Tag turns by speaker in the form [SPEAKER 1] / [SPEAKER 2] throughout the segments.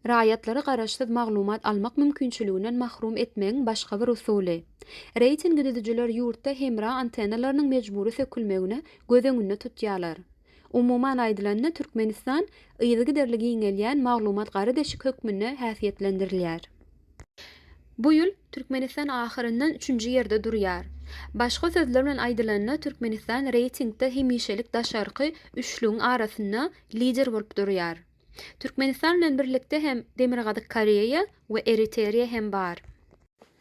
[SPEAKER 1] Raýatlary garaşsyz maglumat almak mümkinçiliginden mahrum etmegiň başga bir usuly. Reýtingi düzüjiler ýurtda hemra antennalarynyň mejbury sökülmegini göz öňünde tutýarlar. Umuman aýdylanda, Türkmenistan yzygiderli giňelýän maglumat gara deşik hökmünde häsiýetlendirilýär. Bu ýyl Türkmenistan ahyryndan üçünji ýerde durýar. Başga sözler bilen aýdylanda Türkmenistan reýtingde hemişelik daşarky üçlügiň arasynda lider bolup durýar. Türkmenistan bilen birlikde hem Demirgazyk Koreýa we Eriteriýa hem bar.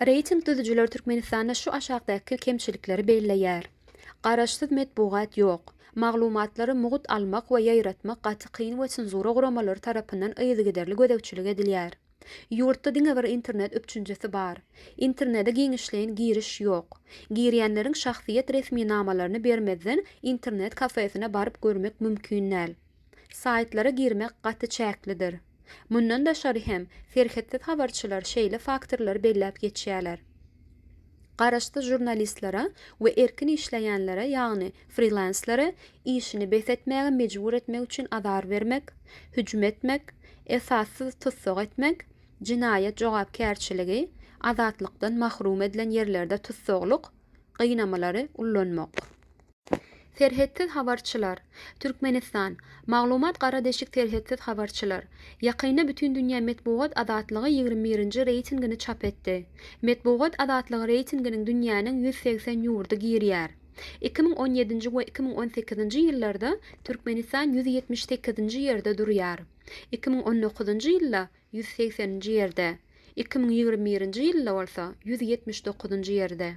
[SPEAKER 1] Reýting düzüjiler Türkmenistanda şu aşakdaky kemçilikleri belleýär, Garaşsyz metbugat ýok. Maglumatlary mugt almak we ýaýratmak gaty kyn we senzura guramalary tarapyndan yzygiderli gözegçilik edilýär. Ýurtda diňe bir internet üpjünçisi bar. Internede giňişleýin giriş ýok. Girýänleriň şahsyýet resminamalaryny bermezden internet kafesine baryp görmek mümkin däl. Saýtlara girmek gaty çäklidir. Mundan daşary hem, serhetsiz habarçylar şeýle faktorlary belläp geçýärler. Garaşsyz žurnalistlere we erkin işleýänlere, ýagny frilenslere işini bes etmäge mejbur etmek üçin azar bermek, hüjüm etmek, esassyz tussag etmek, jenaýat jogapkärçiligi, azatlykdan mahrum edilen ýerlerde tussaglyk, gynamalary ullanmak. Serhetsiz habarçylar, Türkmenistan, Maglumat Gara deşik Serhetsiz habarçylar, ýakynda Bütindünýä metbugat azatlygy ýigrimi birinji reýtingini çap etdi. Metbugat azatlygy reýtinginiň dünýäniň ýüz segsen ýurdy girýär. Iki müň on ýedinji we iki müň on sekizinji ýyllarda Türkmenistan ýüz ýetmiş sekizinji ýerde durýar. Iki müň on dokuzynjy ýylda ýüz segseninji ýerde, iki müň ýigrimi birinji ýylda bolsa ýüz ýetmiş dokuzynjy ýerde.